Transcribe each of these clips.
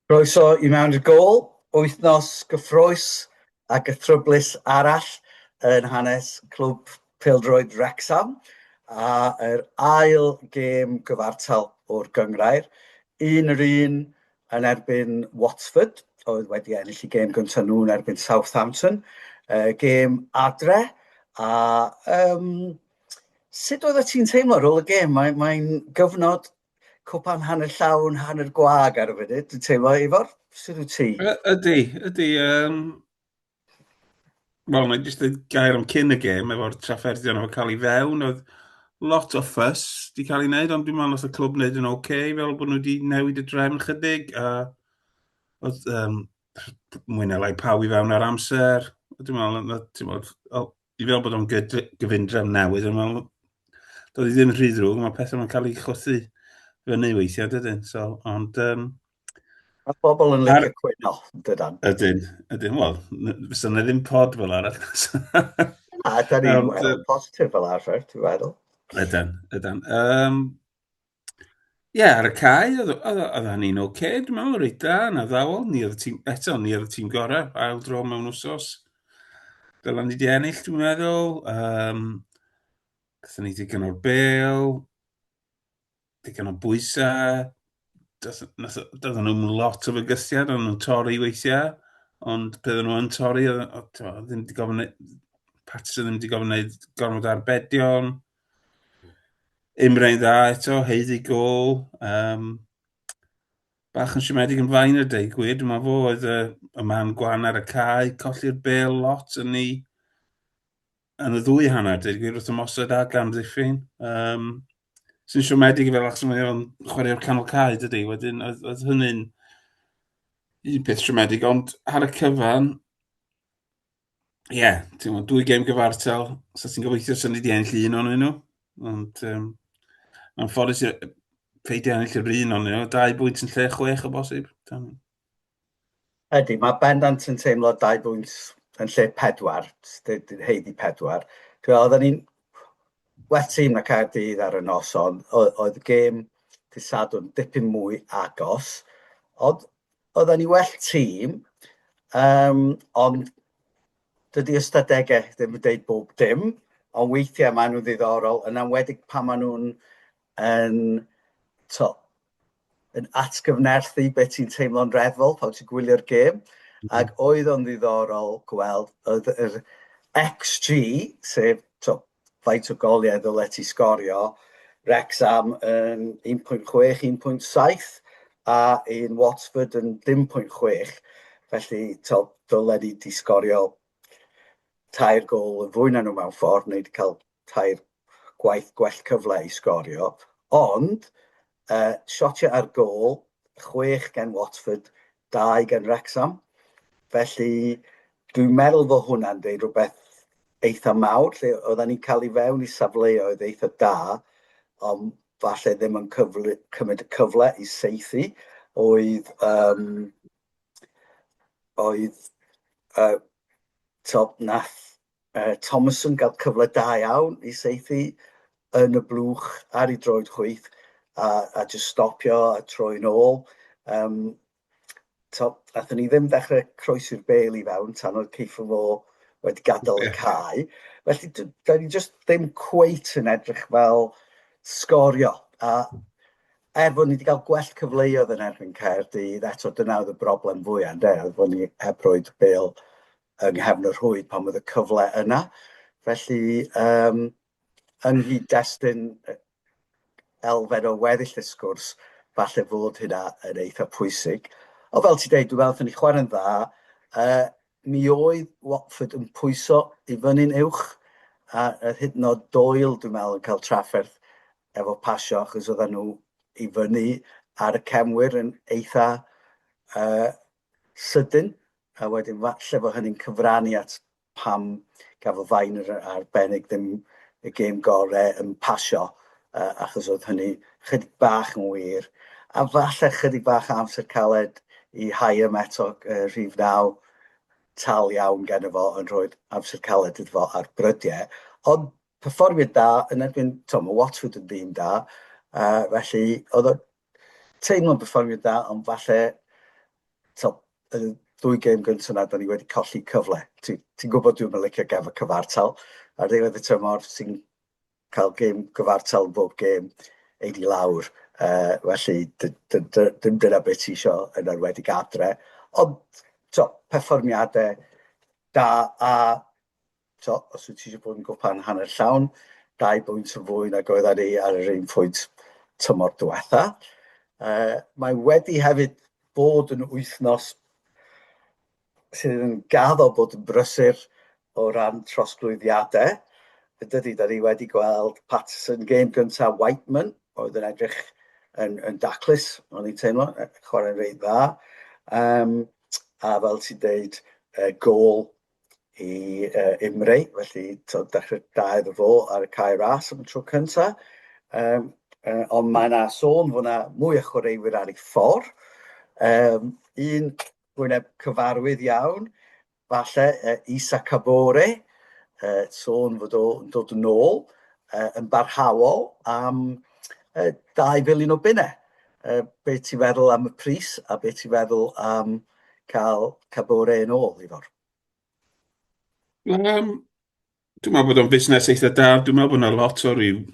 Croeso i mewn i'r gôl, wythnos gyffrous a gythryblus arall yn hanes clwb pêl-droed Wrecsam a yr ail gêm gyfartal o'r gynghrair, un yr un yn erbyn Watford oedd wedi ennill y gêm gyntaf nhw yn erbyn Southampton, gêm adre a yym Sut oeddet ti'n teimlo ar ôl y gêm? Mae'n mae gyfnod cwpan hanner llawn, hanner gwag ar y funud, dwi'n teimlo, Ifor, sydd wyt ti? Ydy, ydy. Um, Wel, mae'n jyst y gair am cyn y gêm, efo'r trafferthion efo'n cael ei fewn, oedd lot o ffys di cael ei wneud, ond dwi'n meddwl oedd y clwb wneud yn oce, okay, fel bod nhw wedi newid y drefn chydig, a oedd um, mwy neu lai pawb i fewn ar amser, dwi'n meddwl, Dwi'n meddwl bod o'n gyfundrefn newydd, ond mae'n dod i ddim rhy ddrwg, mae pethau yn cael ei chwythu fyny weithiau, dydyn. So, ond... Um, Mae bobl yn licio cwyno, dydan. Ydyn, ydyn. Wel, fysa na ddim pod fel arall. Na, da ni'n um, positif fel arfer, ti'n meddwl. Ydyn, ydyn. Um, Ie, ar y cae, oedd, oedd, oedd hynny'n oce, okay, dwi'n meddwl, reit da, na ddawol, ni oedd y tîm, eto, ni oedd y tîm gorau, ail dro mewn wsos. Dylan ni wedi ennill, dwi'n meddwl. Um, Gatho ni digon o'r bel, digon o bwysau. Doedd nhw'n lot o fygythiad, ond nhw'n torri weithiau. Ond byddwn nhw yn torri, oedd ddim wedi gofyn... Pats ddim wedi gofyn gwneud gormod arbedion. Imre'n dda eto, heiddi gol. Um, bach yn siomedig yn fain y deg gwir, dyma fo oedd y, y man gwan ar y cae, colli'r bel lot yn ni yn y ddwy hanner, deg gwir wrth ymosod a gan ddiffyn. Um, sy'n siomedig i fel achos mae o'n chwarae o'r canol cae dydy, wedyn oedd, oedd hynny'n un peth siomedig, ond ar y cyfan, ie, yeah, ti'n meddwl, dwy gem gyfartal, so ti'n gobeithio sy'n wedi enll un o'n nhw. Ond um, mae'n ffodus i peidio ennill yr un o'n nhw, dau bwynt yn lle chwech o bosib. Ydy, mae bendant yn teimlo dau bwynt yn lle pedwar, heidi pedwar. Dwi'n meddwl, oedden ni'n well tîm na Caerdydd ar y nos, ond oedd y gêm dydd Sadwrn dipyn mwy agos. Ond Oedden ni well tîm, um, ond dydy ystadegau ddim yn dweud bob dim, ond weithiau maen nhw'n ddiddorol, yn amwedig pan maen nhw'n yn, to, yn atgyfnerthu beth sy'n teimlo'n reddfol pan ti'n gwylio'r gêm, mhm. ac oedd o'n ddiddorol gweld oedd yr XG, sef to, faint o goliau ddylet ti sgorio, Wrexham yn 1.6, 1.7 a un Watford yn 0.6, felly taw dylen ni di sgorio tair gol yn fwy na nhw mewn ffordd, neu wedi cael tair gwaith gwell cyfle i sgorio, ond Yy, shotiau ar gôl, chwech gan Watford, dau gan Wrecsam. Felly, dwi'n meddwl fod hwnna'n dweud rhywbeth eitha mawr, lle oedden ni'n cael ei fewn i safleoedd eitha da, ond falle ddim yn cyfle, cymryd y cyfle i seithi, oedd, um, oedd uh, to, nath Thomas yn cael cyfle da iawn i saethu yn y blwch ar ei droed chwith a, a just stopio a troi'n ôl. Um, to, athyn ni ddim dechrau croesi'r bel i fewn tan oedd Ceiffo fo wedi gadael y cae. Felly, da ni just ddim cweit yn edrych fel sgorio. A er bod ni wedi cael gwell cyfleoedd yn erbyn Caerdydd, eto dyna oedd y broblem fwyaf, de, oedd bod ni heb roed bel yng nghefn y rhwyd pan oedd y cyfle yna. Felly, um, yng nghyd-destun elfen o weddill y sgwrs, falle fod hynna yn eitha pwysig. O fel ti dweud, dwi'n meddwl ni chwarae'n dda. Uh, mi oedd Watford yn pwyso i fyny'n uwch, a a hyd yn oed Doyle, dwi'n meddwl, yn cael trafferth efo pasio, achos oedden nhw i fyny ar y cefnwyr yn eitha uh, sydyn, a wedyn falle fo hynny'n cyfrannu at pam gafodd Vine yn arbennig ddim y gêm gore yn pasio yy achos oedd hynny chydig bach yn wir, a falle chydig bach o amser caled i Hyam eto yy rhif naw tal iawn geno fo yn rhoid amser caled iddo fo ar brydie, ond perfformiad da yn erbyn t'mo' ma' Watford yn dîm da yy felly oedd o teimlo'n perfformio da, ond falle, to, y dwy gêm gyntaf na, da ni wedi colli cyfle. Ti'n ti gwybod dwi'n mynd licio gafo cyfartal, ar ddiwedd y tymor sy'n cael gêm gyfartal yn bob gêm, ei di lawr. Uh, felly, dim dyna beth ti eisiau yn arwedig adre. Ond, to, perfformiadau da a So, os wyt ti eisiau bod yn gwpan hanner llawn, dau bwynt yn fwy nag oedd ar ei ar yr un pwynt tymor diwetha. Uh, mae wedi hefyd bod yn wythnos sydd yn gaddo bod yn brysur o ran trosglwyddiadau. Yn dydy, da ni wedi gweld Patterson game gyntaf Whiteman, oedd yn edrych yn, yn daclus, o'n i'n teimlo, chwarae'n reit dda. Um, a fel ti'n deud, uh, gol i uh, Imrei, felly tod, dechrau da iddo fo ar y cae ras am y tro cynta. Um, uh, ond mae yna sôn fod yna mwy o chwaraewyr ar ei ffordd. Um, un gwyneb cyfarwydd iawn, falle uh, Isa Cabore, uh, sôn fod o'n dod yn ôl uh, yn barhaol am uh, 2 filiwn o bunnau. Uh, be ti'n feddwl am y pris a be ti'n feddwl am um, cael Kabore yn ôl, Ifor? Um, dwi'n meddwl bod o'n busnes eitha da. Dwi'n meddwl bod yna lot o ryw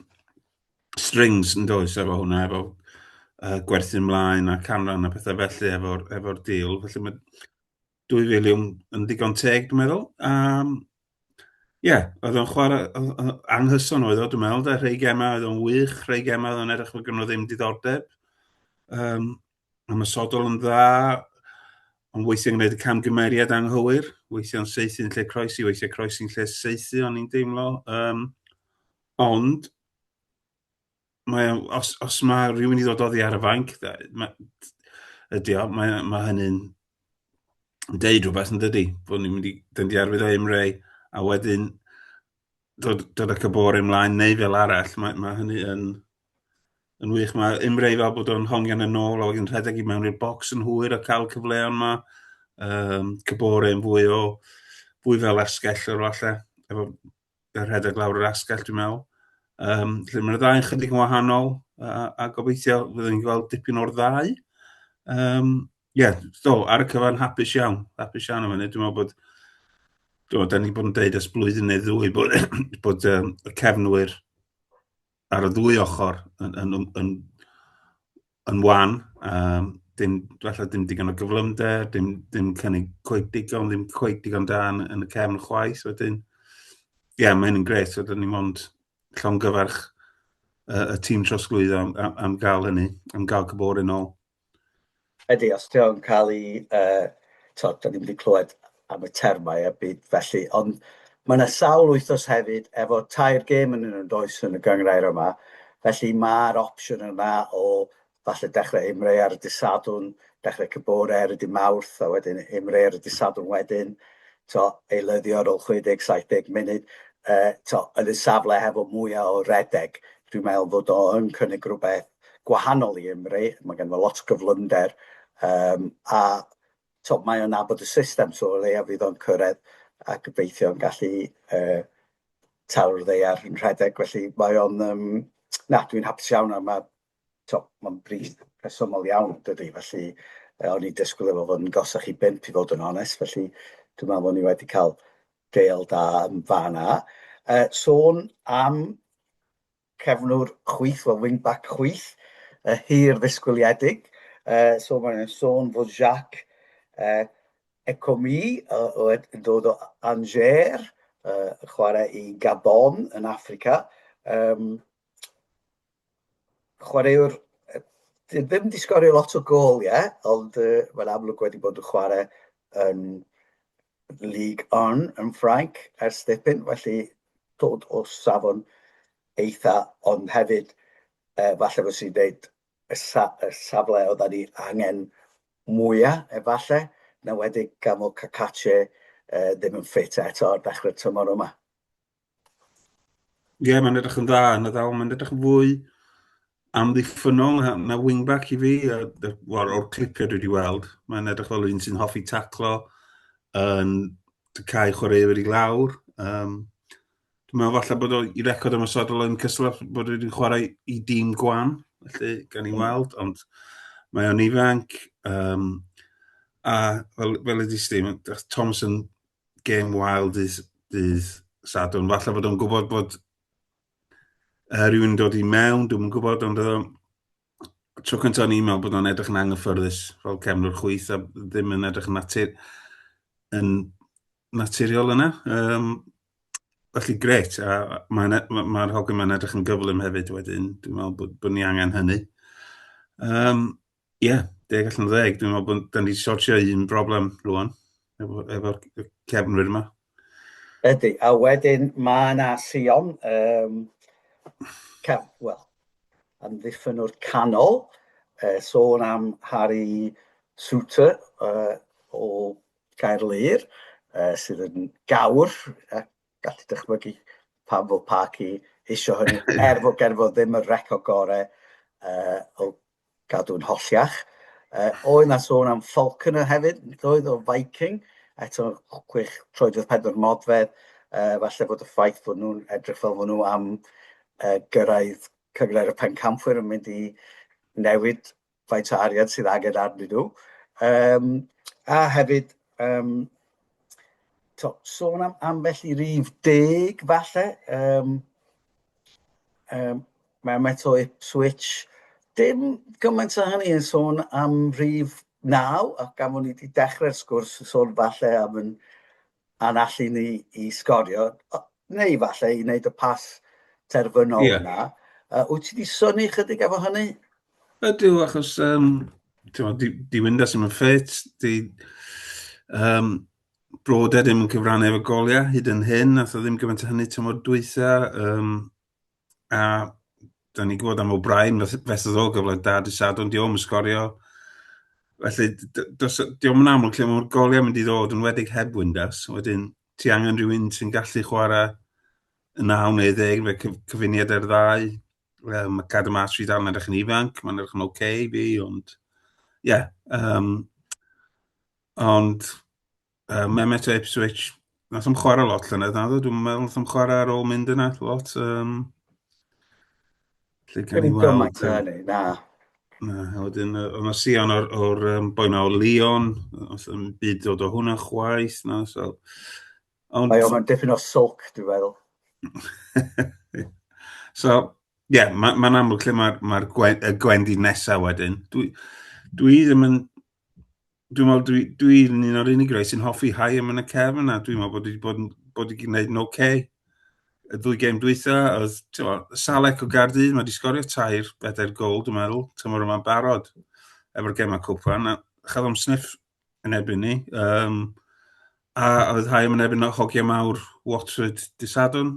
strings yn does efo hwnna, efo uh, gwerthu ymlaen a canran a pethau felly efo'r efo deal. Felly mae 2 filiwn yn ddigon teg, dwi'n meddwl. Um, Ie, yeah, oedd o'n chwarae anghyson oedd o, dwi'n meddwl, da, rhai gemau oedd o'n wych, rhai gemau oedd o'n edrych fod gynnwyd ddim diddordeb. Um, ymosodol yn dda, ond weithiau'n gwneud y camgymeriad anghywir, weithiau'n seithi yn lle croesi, weithiau croesi'n lle seithi, o'n i'n deimlo. Um, ond, mae, os, os mae rhywun i ddod oddi ar y fainc, ydy o, mae, mae hynny'n deud rhywbeth yn dydy, bod ni'n mynd i, dyn di arwydd o Emre, a wedyn dod, dod ac y bore ymlaen neu fel arall, mae, mae hynny yn, yn wych. Mae Imre i fel bod o'n hongian yn ôl a wedyn rhedeg i mewn i'r bocs yn hwyr a cael cyfleon yma. Um, cybore yn fwy o, fwy fel asgell o'r falle, efo y rhedeg lawr yr asgell dwi'n meddwl. Um, lle mae'r ddau yn chydig yn wahanol a, a gobeithio fyddwn ni'n gweld dipyn o'r ddau. Um, Ie, do, ar y cyfan hapus iawn, hapus iawn am hynny. Dwi'n meddwl bod, do, da ni bod yn deud ys blwyddyn neu ddwy bod, bod um, y cefnwyr ar y ddwy ochr yn, yn, yn, yn, yn wan. Um, dim, falle dim digon o gyflymder, dim, dim cynnig coed digon, ddim coed digon dan yn y cefn chwaith wedyn. Ie, yeah, mae hyn yn gret, so da ni mond llongyfarch uh, y tîm trosglwyddo am, am, am gael hynny, am gael cybor yn ôl. Ydy, os ti o'n cael ei... Yy, t'od, 'dan ni'm wedi clywed am y termau a byd felly, ond mae 'na sawl wythnos hefyd efo tair gêm yn nhw, does, yn y gynghrair yma, felly mae'r opsiwn yna o falle dechrau ymreu ar y dydd Sadwrn, dechrau cyn bore ar y dydd Mawrth, a wedyn ymreu ar y dydd Sadwrn wedyn, t'o', eilyddio ar ôl 60, 70 munud, yy, t'o', yn y safle hefo mwya' o redeg, dwi'n meddwl fod o yn cynnig rwbeth gwahanol i Gymru, mae ganddo fo lot o gyflymder um, a to, mae o'n abod y system, so o leia fydd o'n cyrraedd a gobeithio yn gallu uh, taw'r ddeiar yn rhedeg, felly mae o'n, um, na, dwi'n hapus iawn a mae, to, mae'n bryd rhesymol iawn, dydy, felly uh, o'n i disgwyl efo fod yn gosach i bimp i fod yn onest, felly dwi'n meddwl bod ni wedi cael deal da yn fan a. Uh, sôn am cefnwr chwith, wel wing-back chwith, uh, hir ddisgwyliedig. Uh, so mae'n sôn fod Jacques uh, Ecomi uh, o, yn dod o Angers, uh, chwarae i Gabon yn Africa. Um, chwaraewr, ddim di sgorio lot o gol, ie, yeah, ond uh, mae'n amlwg wedi bod yn chwarae yn League On yn Ffrainc ers dipyn, felly dod o safon eitha, ond hefyd e, falle fod sy'n dweud y, sa, y safle oedd ni angen mwyaf, efallai, na wedi gan fod Cacace e, ddim yn ffit eto ar ddechrau'r tymor yma. Ie, yeah, mae'n edrych yn dda yn y ddawl. Mae'n edrych yn fwy amddiffynol na, na wingback i fi. Wel, o'r clipiau dwi wedi weld, mae'n edrych fel un sy'n hoffi taclo, yn cael chwaraewyr i lawr. Um, dwi'n meddwl falle bod o'i i record ymwysodol yn cystal bod wedi'n chwarae i dîm gwan, felly gan i mm. weld, ond mae o'n ifanc. Um, a fel, fel ydy Steve, Thomas yn gêm wael dydd, dydd Sadwn. Falle fod o'n gwybod bod uh, rhywun dod i mewn, dwi'n gwybod, ond uh, tro cyntaf o'n i'n meddwl bod o'n edrych yn anghyffyrddus fel cefnwr chwyth a ddim yn edrych yn, natur, yn naturiol yna. Um, felly gret, a mae'r ma, ma hogyn mae'n edrych yn gyflym hefyd wedyn, dwi'n meddwl bod, bod ni angen hynny. Um, Ie, deg allan o ddeg. Dwi'n meddwl bod... dan ni 'di sortio un broblem rŵan efo, efo y cefnwyr yma. Ydy, a wedyn mae yna Sion, um, cef, wel, amddiffynwr canol, uh, sôn am Harry Souter uh, o Gaerlŷr, uh, sydd yn gawr, a gallu dychmygu pam fod Parky eisiau hynny, er fod gerfod ddim y record gorau uh, o Gadw'n holl iach. Uh, oedd na sôn am Falconer hefyd, doedd o Viking, eto gwych troedfedd pedwar modfedd, uh, falle bod y ffaith bod nhw'n edrych fel bod nhw am uh, gyrraedd cyngled y pencampwyr yn mynd i newid faint o arian sydd angen arnyn nhw. Um, a hefyd, um, to, sôn am ambell i rif deg falle, um, um, Mae Metro Ipswich dim gymaint o hynny yn sôn am rhif naw, a gan fod ni wedi dechrau'r sgwrs yn sôn falle am yn a'n allu ni i sgorio, neu falle i wneud y pas terfynol yeah. yna. Uh, wyt ti wedi syni chydig efo hynny? Ydw, achos um, di, di Winda sy'n mynd ffit, di um, Broda ddim yn cyfrannu efo goliau hyd yn hyn, nath o ddim gymaint o hynny tymor dwytha. Um, A da ni'n gwybod am O'Brien fesys o gyfle da di sadwn, diolch yn sgorio. Felly, diolch yn amlwg lle mae'r goliau mynd i ddod yn wedig heb Windows. Wedyn, ti angen rhywun sy'n gallu chwarae y 9 neu 10 fe cyf cyfuniad ar ddau. Um, mae cadw mas fi dal yn edrych yn ifanc, mae'n edrych yn oce okay, fi, ond... Ie, yeah, um, ond uh, Mehmet o Ipswich, nath am chwarae lot llynedd, na ddo, dwi'n meddwl nath am chwarae ar ôl mynd yna, lot. Um, lle gan i weld... Na. Na, a wedyn, oedd yna Sion o'r, or, um, boi ma o Leon, oedd yn byd dod o hwnna chwaith, na, so... Ond... Mae o'n dipyn o soc, dwi'n meddwl. so, ie, yeah, mae'n ma amlwg lle mae'r ma, ma y gwendid nesaf wedyn. Dwi, dwi ddim yn dwi'n meddwl dwi, dwi'n un o'r unig rai sy'n hoffi hau am yn y cefn a dwi'n meddwl bod wedi bod, bod wedi gwneud yn oce. Okay. Y ddwy gem dwytha, oedd tywa, Salek o Gardydd, mae wedi sgorio tair bedair gol, dwi'n meddwl, tymor yma'n barod efo'r gemau cwpan. A chaf am sniff yn ebyn ni. Um, a oedd hau am yn ebyn o hogiau mawr Watford Disadwn.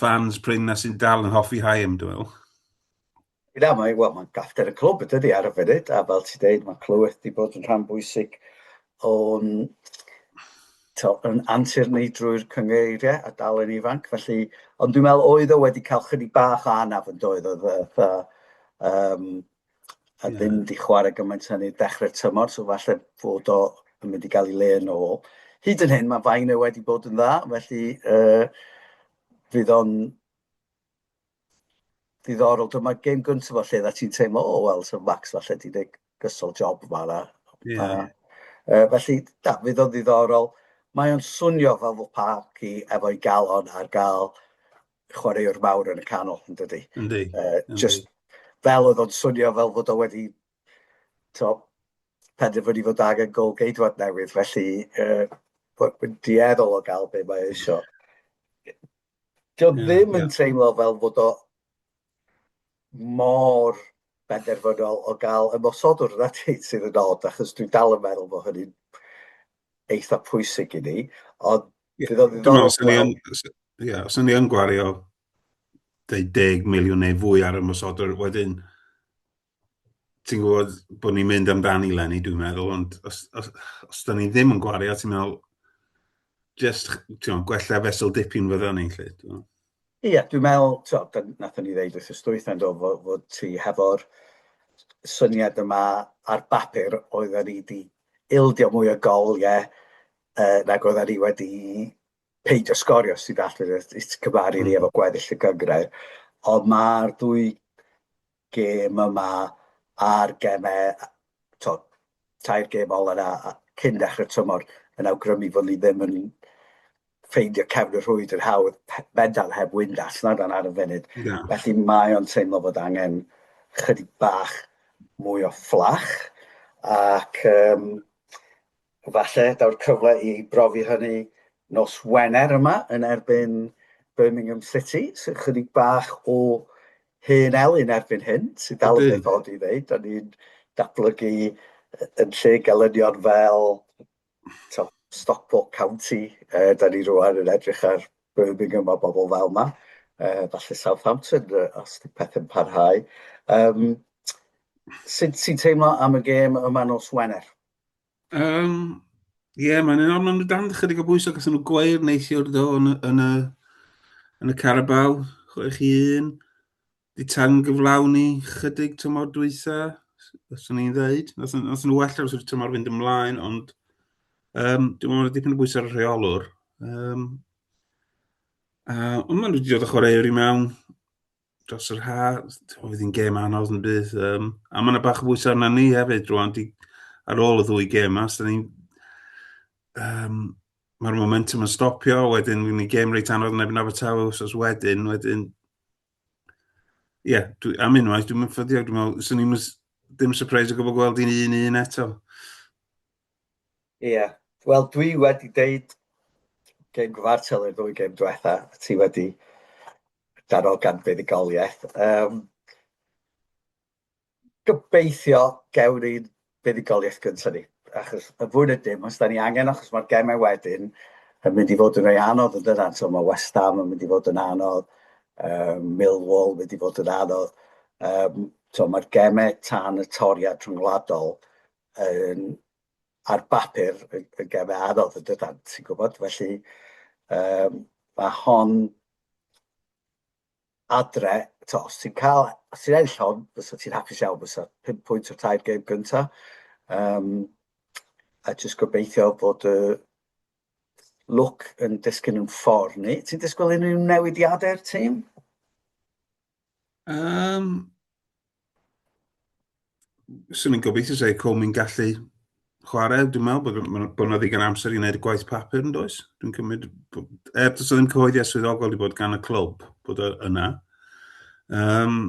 fans prin na sy'n dal yn hoffi Haim, dwi'n meddwl. Na, mae, well, mae'n gafter y clwb y dydy ar y funud, a fel ti'n dweud, mae clywed wedi bod yn rhan bwysig o'n yn antur ni drwy'r cyngeiriau a dal yn ifanc, felly, ond dwi'n meddwl oedd o wedi cael chydig bach o anaf yn doedd, oedd um, a yeah. ddim wedi chwarae gymaint hynny dechrau'r tymor, so falle fod o yn mynd i gael ei le yn ôl. Hyd yn hyn, mae fain e wedi bod yn dda, felly uh, fydd o'n ddiddorol. Dyma gêm gyntaf o lle dda ti'n teimlo, o, oh, wel, so Max falle di deg gysol job yma. Na. Yeah. Uh, felly, da, fydd o'n ddiddorol. Mae o'n swnio fel fod parc i efo'i galon ar gael chwaraewr mawr yn y canol, yn dydy? Yndi. Uh, just fel oedd o'n swnio fel fod o wedi to, penderfynu fod angen gol geidwad newydd, felly uh, mae'n dieddol o gael be mae eisiau. Dio yeah, ddim yn yeah. teimlo fel fod o mor benderfynol o gael ymosodwr yna ti sydd yn od, achos dwi'n dal yn meddwl bod hynny'n eitha pwysig i ni, ond Ie, os o'n i yn gwario 10 miliwn neu fwy ar y ymosodwr, wedyn ti'n gwybod bod ni'n mynd amdani Lenny, dwi'n meddwl, ond os, os, os da ni ddim yn gwario, ti'n meddwl, just, ti'n gwella fesel dipyn fydda ni, lle. Ie, yeah, dwi'n meddwl, ti'n nath ni ddeud wrth ystwyth yn dod fod, fod ti hefo'r syniad yma ar bapur oedd ni wedi ildio mwy o gol, ie, uh, nag oedd ni wedi peidio sgorio sydd allan i'r cymaru ni efo gweddill y gyngrau. Ond mae'r dwy gêm yma a'r gemau, to, tair gêm ol yna cyn dechrau tymor yn awgrymu fod ni ddim yn ffeindio cefn y rhwyd yn hawdd fendal heb wynd allan dan ar y funud. Yeah. Felly mae o'n teimlo fod angen chydig bach mwy o fflach ac um, Falle daw'r cyfle i brofi hynny nos Wener yma yn erbyn Birmingham City, sy'n chydig bach o hen elyn erbyn hyn, sy'n dal yn beth odd i ddeud, da ni'n datblygu yn lle gelynion fel to, Stockport County, e, da ni rwan yn edrych ar Birmingham a bobl fel yma, e, falle Southampton e, os di pethau'n parhau. Um, Sut ti'n teimlo am y gêm yma nos Wener? Um, Ie, yeah, mae'n un o'n nhw dan chydig o bwysau, gos nhw gweir neithiwr do yn, yn, y, yn y Carabao, 6-1. Di tan gyflawni chydig tymor dwytha, os o'n i'n ddeud. Os o'n nhw well ar ysgrifft tymor fynd ymlaen, ond um, dwi'n meddwl dipyn o bwysau ar y rheolwr. Um, uh, ond maen nhw wedi dod o chwarae i mewn dros yr haf, oedd hi'n gêm anodd yn bydd. Um, a mae'n bach o bwysau arna ni hefyd rwan, di, ar ôl y ddwy gêm yma, so ni'n... Um, Mae'r momentum yn stopio, wedyn fi'n ni gêm reit anodd yn ebyn Abertawe os wedyn, wedyn... Ie, yeah, dwi, am unwaith, dwi'n mynd ffyddiog, dwi'n meddwl, swn i'n ddim surprise o gwybod gweld i'n un un eto. Ie. Yeah. Wel, dwi wedi deud gêm gyfartal i'r ddwy gêm diwetha, a ti wedi darogan buddugoliaeth. Um, gobeithio gewn ni'n buddugoliaeth gyntaf ni, achos y fwy na dim, os da ni angen, achos mae'r gemau wedyn yn mynd i fod yn rhoi anodd yn dydan, so mae West Ham yn mynd i fod yn anodd, um, Millwall yn mynd i fod yn anodd, um, so mae'r gemau tan y toriad rhyngwladol yn ar bapur yn, yn gem anodd yn dydan, ti'n gwybod? Felly um, mae hon adre, to, os ti'n cael, os ti'n ennill hon, fysa ti'n hapus iawn, fysa 5 pwynt o'r tair gem gynta. Um, a jyst gobeithio bod y uh, look yn disgyn yn ffordd ni. Ti'n disgwyl unrhyw newidiadau'r tîm? Um, Swn i'n gobeithio sef Comi'n gallu chwarae, dwi'n meddwl bod, bod yna ddigon amser i wneud y gwaith papur yn does. Dwi'n cymryd, er does ddim cyhoeddiad swyddogol wedi bod gan y clwb bod yna. Um,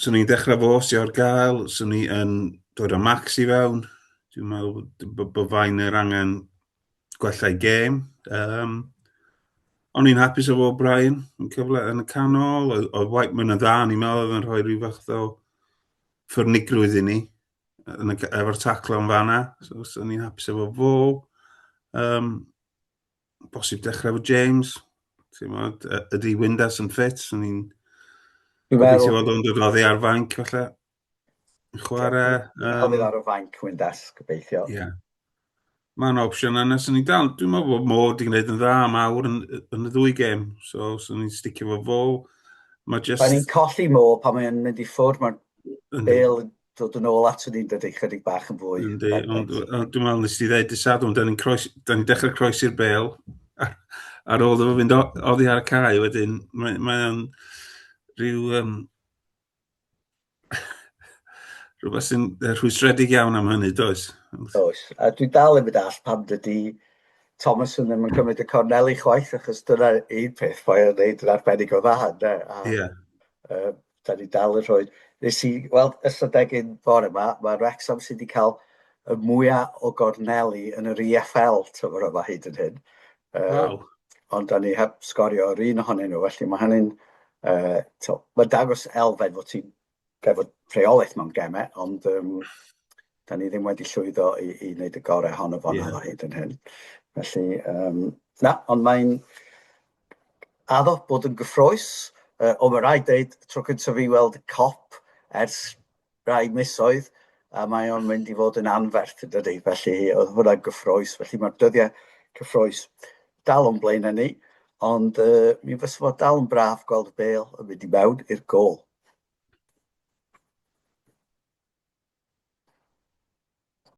swn i'n dechrau fo os o'r gael, swn i'n dod â Max i fewn. Dwi'n meddwl bod fain yr angen gwellai gêm. Um, o'n i'n hapus efo Brian yn cyfle yn y canol, oedd, oedd White yn dda, ni'n meddwl oedd yn rhoi rhyw fath o ffyrnigrwydd i ni yn y, efo'r taclo yn fanna, so, so ni'n hapus efo fo. Um, bosib dechrau efo James, ti'n modd, ydy Windas yn ffit, so ni'n... Dwi'n meddwl... Dwi'n meddwl o'n dod oddi ar fainc, falle. Chwarae... Um... Hofyd ar y fanc, wy'n das, gobeithio. Ie. Yeah. Mae'n opsiwn yna, sy'n ni dal. Dwi'n meddwl bod Mo wedi gwneud yn dda am awr yn, yn y ddwy gem, so sy'n ni'n sticio fo fo. Mae just... Mae'n ni'n colli Mo pan mae'n mynd i ffwrdd, mae'n bel dod yn ôl at ni'n dydy chydig bach yn fwy. Yndi, ond dwi'n meddwl nes ti ddeud disad, ond da ni'n croes, da ni dechrau croesi'r bel ar ôl efo fynd oddi ar y cae wedyn. Mae'n mae rhyw um, rhywbeth sy'n rhwystredig iawn am hynny, does? Does. A dwi dal yn mynd all pam dydy Thomas yn ddim yn cymryd y corneli chwaith, achos dyna un peth mae o'n neud yn arbennig o dda, ynddo? A, yeah. uh, da ni dal yn rhoi... Nes i weld ystadegyn bore yma, mae Wrexham sydd wedi cael y mwyaf o gorneli yn yr EFL tymor yma hyd yn hyn. Waw. Ond da ni heb sgorio yr un ohonyn nhw, felly mae hynny'n... Uh, to, mae dangos elfen fod ti'n gefod rheolaeth mewn gemau, ond um, da ni ddim wedi llwyddo i, i wneud y gorau hon o fan yeah. hyd yn hyn. Felly, um, na, ond mae'n addo bod yn gyffroes, uh, o mae rhaid dweud, tro cyntaf fi weld cop ers rai misoedd, a mae o'n mynd i fod yn anferth yn dydy, felly oedd hwnna'n gyffroes, felly mae'r dyddiau cyffroes dal o'n blaen ni, ond uh, mi fysa fod dal yn braf gweld y bel yn mynd i mewn i'r gol.